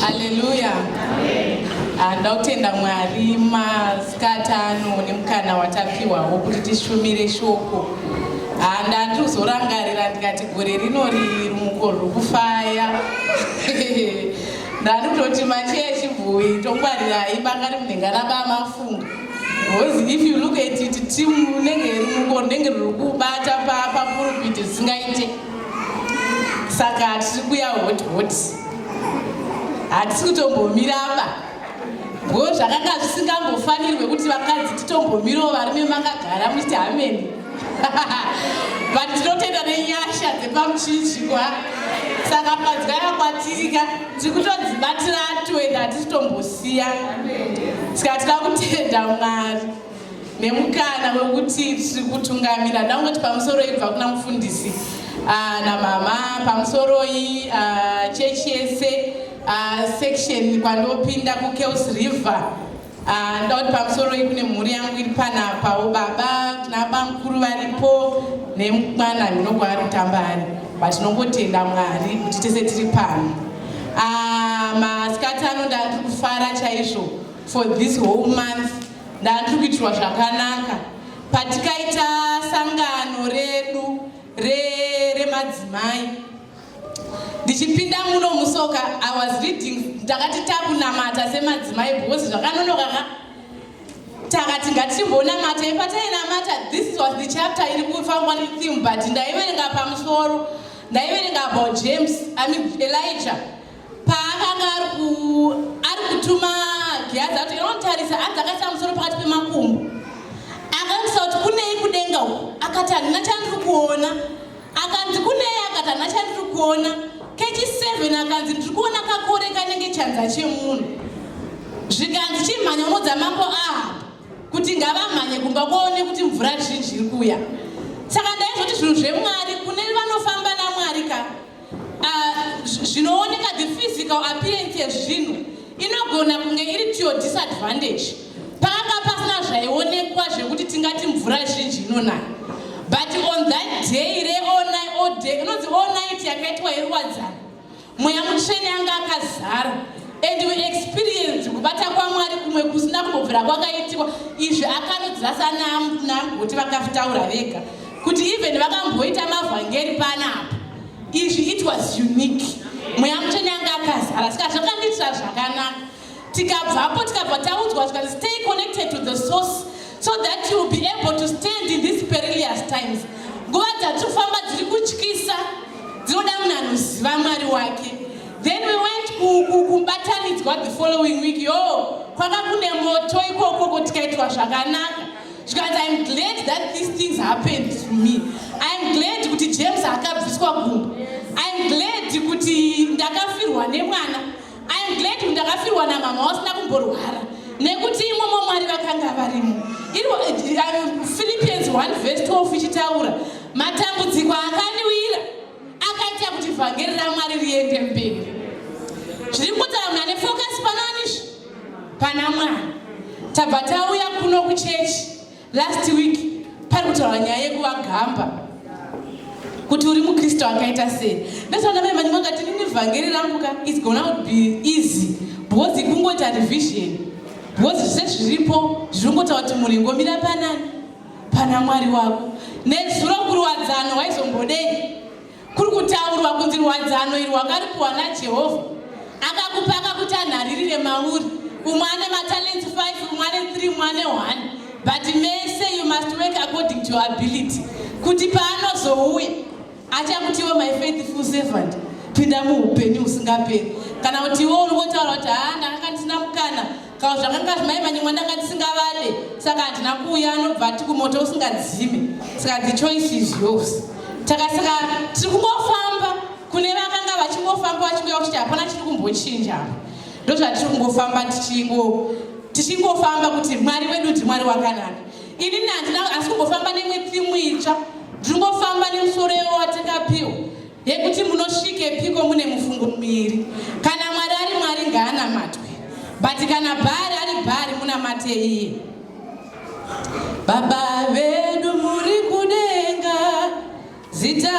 Haleluya. Ah, Ndakutenda Mwari masikati ano nemukana watapiwawo kuti tishumire shoko. Ah, Ndandiri kuzorangarira ndikati gore rino riri rumuko rwokufaya. Ndarutoti macheya echibhoyi tongwarirai banga rimunenge anaba mafunga. Because if you look at it team rinenge rimuko rinenge riri kubata papurupiti risingaite. Saka tiri kuya hot hot. Hatisi kutombomira apa. Ngo zvakanga zvisingambofanirwe kuti vakadzi titombomirawo varume makagara muchiti hameni. but tinotenda nenyasha dzepamuchinjikwa saka padzwaya kwatirika tiri kutodzibatira toenda hatitombosiya saka tida kutenda mwari nemukana wekuti tiri kutungamira ndangoti pamusoro ibva kuna mufundisi ah, namama pamusoroi ah, chechi yese ah, section kwandopinda kukeus river Ah, ndoda kuti pamusoro iyi kune mhuri yangu iri panapawo baba tinabamukuru varipo nemwana ndinogwa ari kutamba ari but tinongotenda mwari kuti tese tiri pano ah, masikati ano ndandiri kufara chaizvo for this whole month ndandiri kuitirwa zvakanaka patikaita sangano redu remadzimai re ndichipinda muno musoka i was reading ndakati takunamata semadzimai because zvakanonoka ka takati ngatichimbonamata ipa tainamata this was the chapter iri kufambwa netheme but ndaiverenga pamusoro ndaiverenga about james i mean elijah paakanga ari ku ari kutuma giyazi ati inotarisa anzi akaisa musoro pakati pemakumbo akatisa kuti kunei kudenga uku akati handina chandiri kuona akanzi kunei akati hana chandiri kuona kechi 7 akanzi ndiri kuona kakore kanenge chanza chemunhu zvikanzi chimhanya unodzamambo aha kuti ngavamhanye kumba kwaone kuti mvura zhinji iri kuuya saka ndaizoti zvinhu zvemwari kune vanofamba namwari ka ah, zvinooneka the physical appearance yezvinhu inogona kunge iri to your disadvantage panga pasina zvaionekwa zvekuti tingati mvura zhinji inonaya but on that day reonai inonzi all night yakaitwa yeruwadzana mweya mutsvene anga akazara and we experience kubata kwamwari kumwe kusina kumbobvira kwakaitikwa izvi akanodzira sanamgoti vakafitaura vega kuti even vakamboita mavhangeri panapa izvi it was unique mweya mutsvene anga akazara saka zvakandiitira zvakanaka tikabvapo tikabva taudzwa zvikanzi stay connected to the source so that you will be able to stand in these perilous times nguva dzatiri kufamba dziri kutyisa dzinoda munhu anoziva mwari wake then we went kubatanidzwa the following week yo kwaka kune moto ikokoko tikaitwa zvakanaka zvikanzi im glad that these things happened to me im glad kuti james akabviswa gumbo im glad kuti ndakafirwa nemwana im glad kuti ndakafirwa namama wasina kumborwara nekuti imomo mwari vakanga varimo philippians 1 vese 12 ichitaura matambudziko akandiwira akaita kuti vhangeri ramwari riende mberi zviri kutaura muna nefocus panoanisvi pana mwana tabva tauya kuno kuchechi last week pari kutaura nyaya yekuvagamba kuti uri mukristu akaita sei ndosaka mai mani makati nini vhangeri rangu ka is gona to be easy because ikungoita revision because zvese zviripo zviri kungotaura kuti mhuri ngomira panani pana mwari wako nezuro kurwadzano waizombodei Kuri kutaurwa kunzi rwadzano iri wakaripuwa naJehovha. Akakupa akakuti anharirire mauri. Umwe ane matalents 5, umwe ane 3, umwe ane 1. But mese you must work according to your ability. Kuti paanozouya achakutiwo my faithful servant pinda muupenyu husingaperi. Kana kuti iwo uri wotaura kuti haa ndakanga ndisina mukana Kawo zvakanga zvimai manyimwa ndanga ndisingavade saka handina kuuya anobva ati kumoto usingadzime saka the choice is yours takasaka tiri kungofamba kune vakanga vachingofamba vachingoya kuti hapana chiri kumbochinja apa ndozvatiri kungofamba tichingofamba kuti mwari wedu ndi mwari wakanaka ini nandina asi kungofamba nemwe timu itsva ndiri kungofamba nemusoro yewo watakapiwa yekuti munosvikepiko mune mufungo miviri kana mwari ari mwari ngaanamatwe but kana bhari ari bhari munamate iye baba vedu muri kudenga zita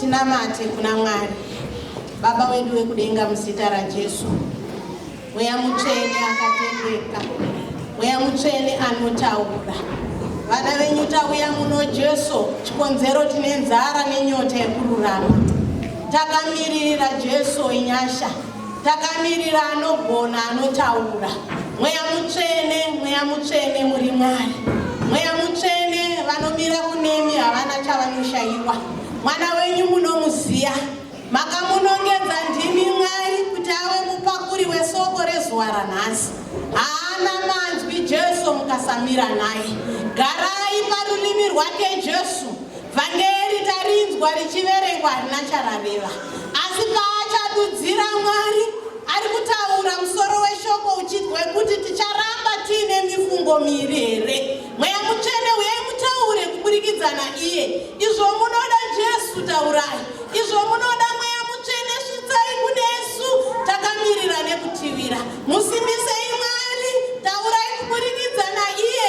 Tinamate kuna Mwari Baba wedu wekudenga muzita raJesu. Mweya mutsvene akatendeka, mweya mutsvene anotaura. Vana venyu tauya muno Jesu, chikonzero tine nzara nenyota yekururama. Takamiririra Jesu wenyasha. takamirira anogona anotaura mweya mutsvene mweya mutsvene muri mwari mweya mutsvene vanomira kunemi havana chavanoshayiwa mwana wenyu munomuziya makamunongedza ndimi mwari kuti ave mupakuri wesoko rezuva ranhasi haana manzwi jesu mukasamira naye garai parurimi rwake jesu Vhangeri tarinzwa richiverengwa harina charareva, asi paachadudzira Mwari ari kutaura musoro weshoko uchiti wekuti ticharamba tiine mifungo miiri here? Mweya mutsvene uyai mutaure kuburikidza naiye. Izvo munoda Jesu taurai, izvo munoda mweya mutsvene svitsai kunesu takamirira nekutibira. Musimbisei Mwari, taurai kuburikidza naiye.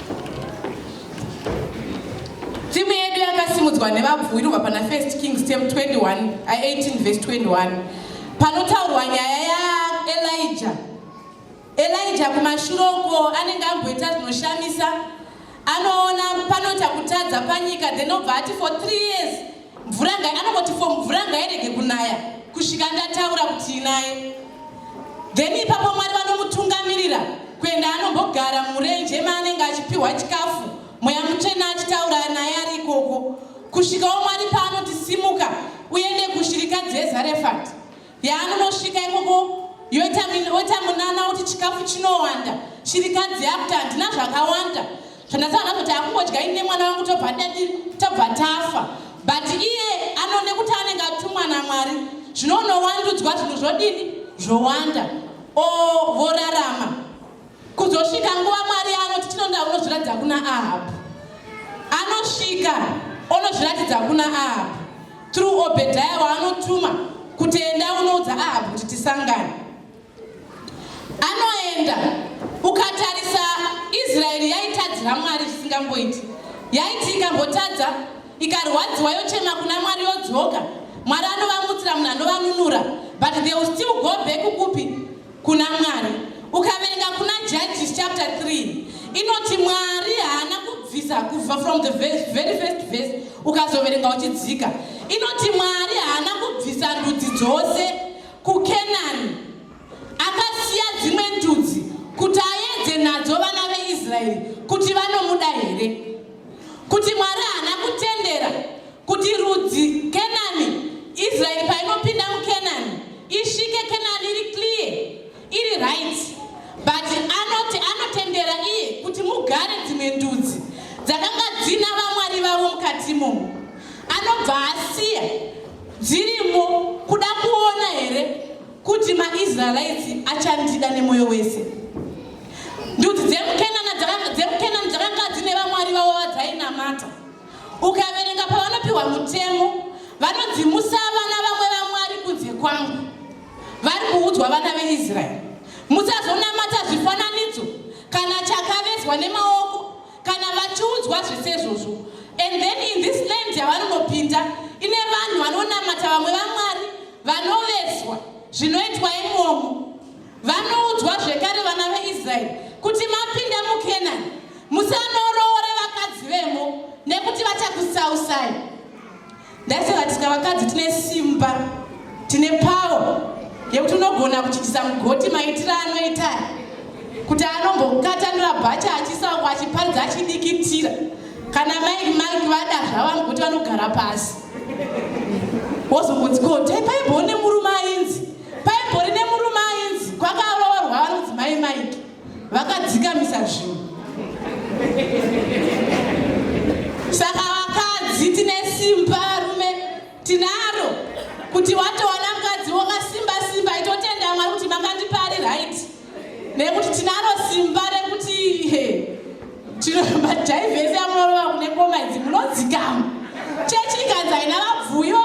Timu yedu yakasimudzwa nevabvumirwa pana 1 Kings tem 21 18 vs 21 panotaurwa nyaya yaElija. Elija kumashure uko anenge amboita zvinoshamisa anoona panoita kutadza panyika then obva ati for three years mvura ngai anongoti fo mvura ngairege kunaya kusvika ndataura kuti inaye then ipapo mwari vanomutungamirira kuenda anombogara murenje maanenge achipiwa chikafu mweya mutsvena achitaura naye ari ikoko kusvikawo mwari paanoti simuka uende kushirika dzezarefati yaanonosvika ikoko yoita munana kuti chikafu chinowanda shirikadzi yakuti handina zvakawanda zvandasana kuti akungodya ine mwana wangu tobva dadi tobva tafa but iye anone kuti anenge atumwa namwari zvinonowandudzwa zvinhu zvodini zvowanda o vorarama Kuzosvika nguva Mwari yaanoti chinonda unozviratidza kuna Ahabhu. Anosvika onozviratidza kuna Ahabhu through Obedhaya waanotuma kuti enda unoudza Ahabhu kuti tisangane. Anoenda ukatarisa Israeri yaitadzira Mwari zvisingamboiti. Yaiti ikambotadza ikarwadziwa yochema kuna Mwari yodzoka. Mwari anovanutsira munhu anovanunura but they will still go back kupi kuna Mwari. Ukaverenga kuna Judges chapter 3 inoti Mwari haana kubvisa kubva from the verse, very first verse ukazoverenga uchidzika inoti Mwari haana kubvisa ndudzi dzose kuKenani akasiya dzimwe ndudzi kuti aedze nadzo vana veIsraeri kuti vanomuda here kuti Mwari haana kutendera kuti rudzi kenani israeri painopinda mukenani isvike kenani iri clear iri right but anoti anotendera iye kuti mugare dzimwe ndudzi dzakanga dzina vamwari vavo mukati imomo anobva asiya dzirimo kuda kuona here kuti maisraelites achandida nemwoyo wese ndudzi dzemukenani dzakanga dzine vamwari vavo vadzainamata Ukaverenga pavanopiwa mutemo, vanodzimusa vana vamwe vamwari kunze kwangu. Vari kuudzwa vana veIsraeri, musazonamata zvifananidzo kana chakavezwa nemaoko kana vachiudzwa zvisezvozvo. And then in this land yavanonopinda ine vanhu vanonamata vamwe vamwari vanovezwa zvinoitwa imomo Vanoudzwa zvekare vana veIsraeri kuti mapinda muKenani, musanoroore vakadzi vemo nekuti vachakusausai. Ndaisaka tika vakadzi tine simba, tine pawo yekuti unogona kuchitisa mugoti maitira anoita kuti anombokatanura bhacha achisaukwa achiparidza achidikitira kana maiki maiki vada zvavamwe kuti vanogara pasi wozongonzi ko taipaimboone murume ainzi Paibori nemurume ainzi kwanga aroorwa vanonzi mai Mike vakadzikamisa zvinhu. Saka vakadzi tine simba varume tinaro kuti watowana mukadzi wakasimba simba itotenda Mwari kuti makandipari right nekuti tinaro simba rekuti tinomajivesi amunorova kune ngoma idzi munodzikama chechi ikanzi haina vabvuivo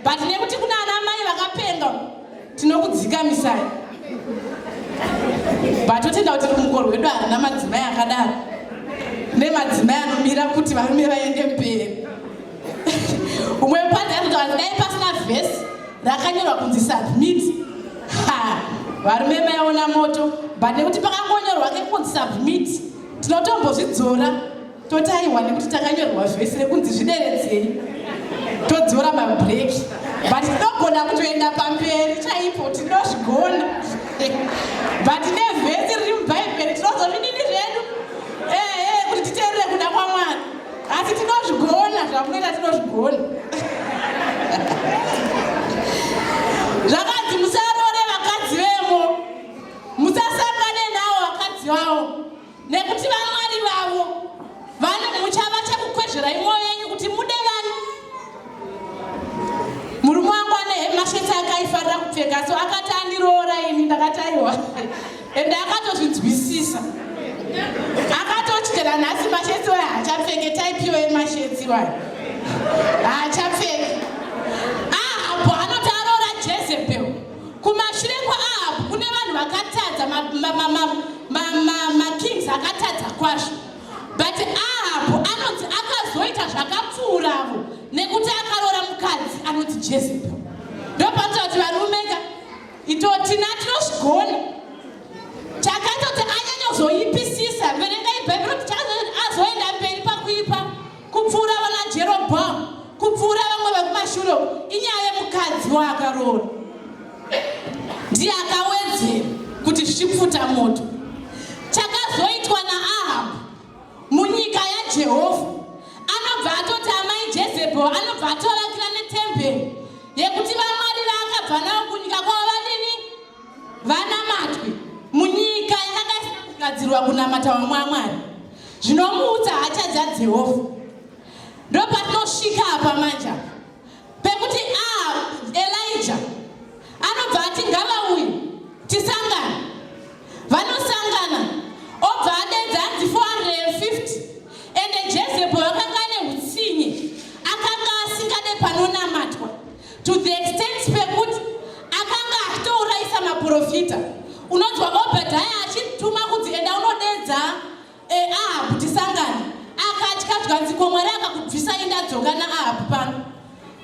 but nekuti kuna ana mai vakapenga tinokudzikamisai but totenda kuti rumuko rwedu harina madzimai akadaro nemadzimai anomira kuti varume vaende mberi umwe padzi anotaura kuti dai pasina vhesi rakanyorwa kunzi submit ha varume maiona moto but nekuti pakangonyorwa kekunzi submit tinotombozvidzora totaiwa nekuti takanyorwa zvese kunzi zvideredzei todzora mabreaki but tinogona kutoenda pamberi chaipo tinozvigona but nevhesi riri mubhaibheri tinozozvidini zvedu ehe kuti titeerere kuda kwamwana asi tinozvigona zvamunoita tinozvigona zvakanzi musarore vakadzi vemo musasangane nawo vakadzi vavo nekuti vamwari vavo muchava chekukwezverai mwoyo yenyu kuti mude vani murume wangu ane hemasheti akaifarira kupfeka so akati andiroora ini ndakati aiwa ende akatozvinzwisisa akatotyira nhasi masheti wayo hachapfeke taipiwa emasheti wayo hachapfeke Kumashure kwaAhabhu kune vanhu vakatadza makings akatadza kwazvo but Ahabhu anonzi akazoita zvakapfuura avo nekuti akaroora mukadzi anoti Jezebel. Ndopanoita kuti varume ka ito tina tinozvigona takaita kuti anyanyozoipisisa verengai bhaibheri kuti azoenda mberi pakuipa kupfuura vana jerobhoamu kupfuura vamwe vekumashure inyaya yemukadzi waakaroora ndiye akawedzera kuti zvichipfuta moto chakazoitwa naahabhu munyika yajehovha anobva atoti amai jezebho anobva atovakira netemberi yekuti vamwari vaakabva navo kunyika kwavo vanamatwe munyika yakanga isina kugadzirwa kunamata vamwe amwari zvinomuudza hacha dzajehovha ndopatinosvika apa manja pekuti a ah, elija anobva ati ngavauyi tisangana vanosangana obva adedza anzi 450 ende jezebho vakanga ane utsinye akanga asingade panonamatwa to the extent pekuti akanga achitourayisa maprofita unonzwa obhadhaya achituma kunzi enda unodeedza eh, ahabhu tisangane akatya zvanzi ko mwari akakubvisa indadzoka naahabhu pano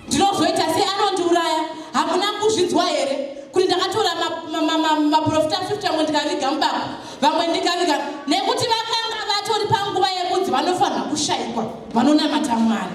ndinozoita sei anondiuraya hamuna kuzvinzwa here kuti ndakatora maprofita 50 amwe ndikaviga mubako vamwe ndikaviga nekuti vakanga vatori panguva yekunzi vanofanira kushaikwa vanonamata mwari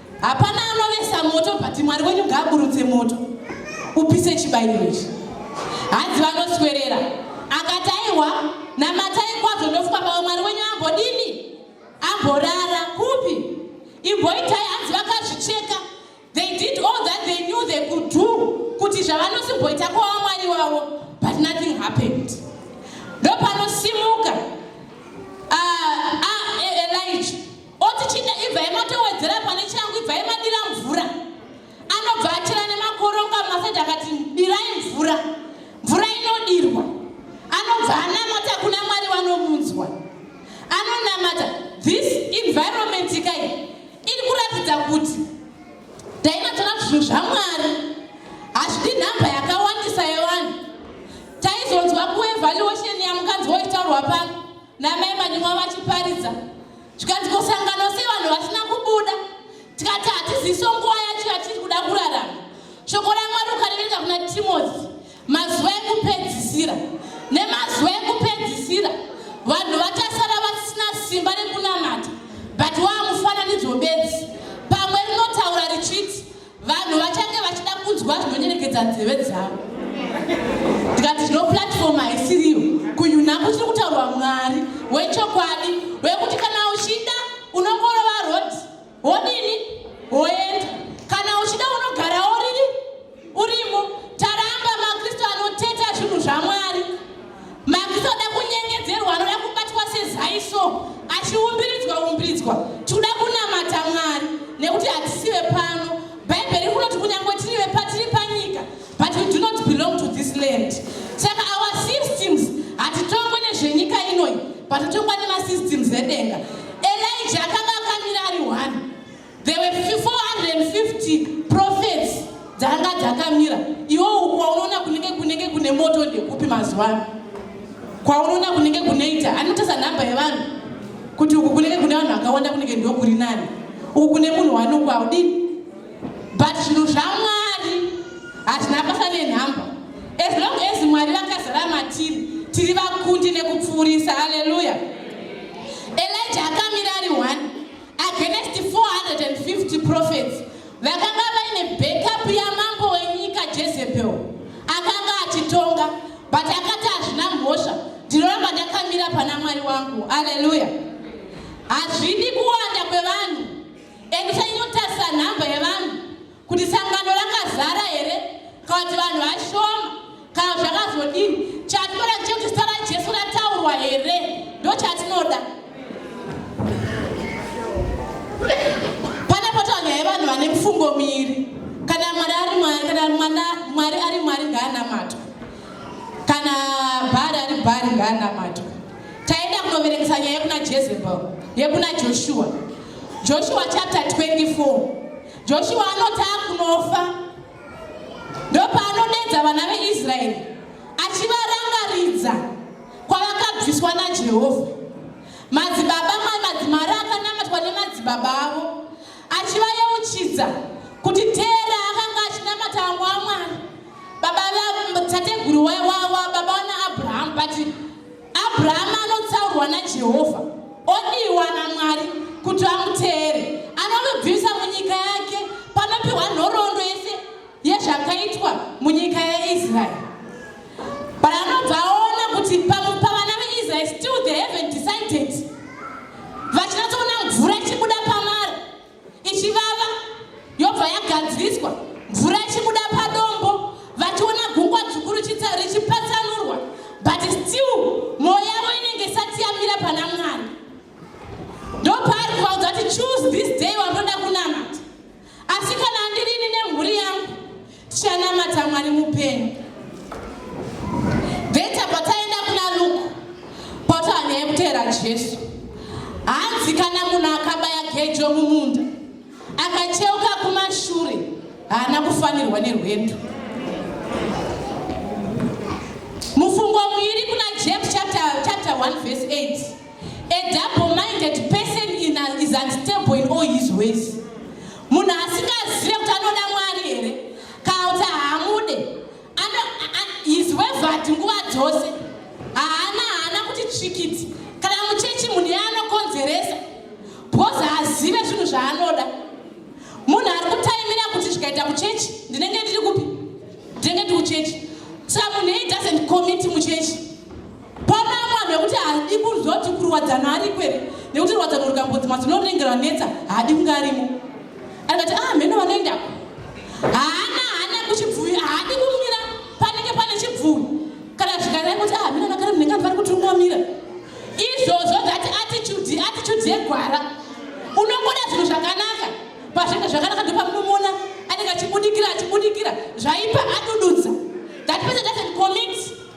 Hapana anovesa moto but Mwari wenyu ngaaburutse moto upise chibairo ichi. Hanzi vanoswerera akati aiwa namatai kwazvo ndofunga pamwe Mwari wenyu ambodini amborara kupi imboitai hanzi vakazvicheka they did all that they knew they could do kuti zvavanosimboita kwava Mwari wavo but nothing happened ndopanosimuka uh, ah, uh, ah, e, Elijah oti chinda ibvai matowedzera pane changu ibvai madira mvura anobva achira nemakoronga masaidi akati dirai mvura mvura inodirwa anobva anamata kuna mwari vanomunzwa anonamata this environment kai iri kuratidza kuti taimatora zvinhu zvamwari hazvidi nhamba yakawandisa yevanhu taizonzwa kuevaluation yamukanzi woitaurwa pano namai manyumwa vachiparidza zvikanzi kosangano sei vanhu vasina kubuda tikati hatiziso nguva yacho yatiri kuda kurarama shoko ramwari ukarevereka kuna timothy mazuva ekupedzisira nemazuva ekupedzisira vanhu vachasara vasina simba rekunamata but waamufananidzo bedzi pamwe rinotaura richiti vanhu vachange vachida kunzwa zvinonyerekedza nzeve dzavo ndikati tino platform haisiriyo kuyuna kuchiri kutaurwa mwari wechokwadi wekuti kana uchida unongorova rod wodini woenda kana uchida unogara oriri urimo taramba makristu anoteta zvinhu zvamwari Makisa oda kunyengedzerwa anoda kubatwa sezai so achiumbiridzwa umbiridzwa tikuda kunamata mwari nekuti hatisi vepano bhaibheri kunoti kunyange tiri vepatiri panyika but we do not belong to this land saka our systems hatitongwe nezvenyika inoyi but totongwa nemasystems edenga elija akanga akamira ari one There were 450 prophets dzanga dzakamira. Iwo kwaunoona kunenge kunenge kune moto ndekupi mazuva ano? Kwaunoona kunenge kuneita anotesa nhamba yevanhu kuti uku kunenge kune vanhu vakawanda kunenge ndokuri nani. Uku kune munhu wanungu haudini. But zvinhu zvaMwari hazvina basa nenhamba. As long as Mwari vakazara matiri tiri vakundi nekupfuurisa. Hallelujah. Elijah akamira ari one against 450 prophets vakanga vaine backup yamambo wenyika jezebel akanga achitonga but akati hazvina mhosva ndinoramba ndakamira pana mwari wangu aleluya hazvidi kuwanda kwevanhu endisanyotasa nhamba yevanhu kuti sangano rakazara here kana kuti vanhu vashoma kana zvakazodini chatinoda chekuti zita rajesu rataurwa here ndo chatinoda pane potaura nyaya yevanhu vane mufungo miiri kana mwari ari mwari kana mwana mwari ari mwari ngaanamatwa kana bhari ari bhari ngaanamatwa taenda kunoverekesa nyaya yekuna jezebel yekuna joshua joshua chapter 24 Joshua anoti akunofa ndopaanodedza vana veIsraeri achivarangaridza kwavakabviswa naJehovha. Madzibaba madzimari akanamatwa nemadzibaba avo achivayeuchidza kuti Tera akanga achinamata vamwe vamwari baba tateguru baba vana Abrahamu but Abrahama anotsaurwa naJehovha odiwa naMwari kuti amuteere. Anonobvisa munyika yake panopiwa nhoroondo yese yezvakaitwa munyika yeIsraeri. But anobva aona kuti pavana veIsraeri still they haven't decided vachinatsoona mvura ichibuda pamara ichivava yobva yagadziriswa mvura ichibuda padombo vachiona gungwa dzvuku richipatsanurwa but still mwoyo yavo inenge isati yamira pana mwari ndopaari kuvaudza kuti choose this day wanoda kunamata asi kana andirini nemhuri yangu Tichanamata Mwari mupenyu. Beta pataenda kuna Luke kwatova nyaya yekuteera Jesu. Hanzi kana munhu akabaya gejo mumunda akacheuka kumashure haana kufanirwa nerwendo. Mufungo muiri kuna James chapter, chapter 1 verse 8. A double minded person in a, is unstable in all his ways. Munhu asingazive kuti anoda Mwari here kana kuti haamude. His way vati nguva dzose haana haana kuti tsvikiti kana muchechi munhu iye anokonzeresa because haazive zvinhu zvaanoda. Munhu ari kutaimira kuti zvikaita kuchechi ndinenge ndiri kupi? Ndinenge ndiri kuchechi. Saka munhu iye doesn't commit muchechi. Panama nekuti haadi kuzoti kurwadzana ariko here nekuti rwadzano rukambonzi mazuno rinenge ranetsa haadi kunge arimo akati ah mheno vanoendako haana haana kuchibvuvi haadi kumira panenge pane chibvuvi kana zvikanai kuti ah mheno nakare munenge andivari kuti unomira izvozvo zati attitude attitude yegwara unongoda zvinhu zvakanaka pazvinenge zvakanaka ndopamunomona anenge achibudikira achibudikira zvaipa adududza that person doesn't commit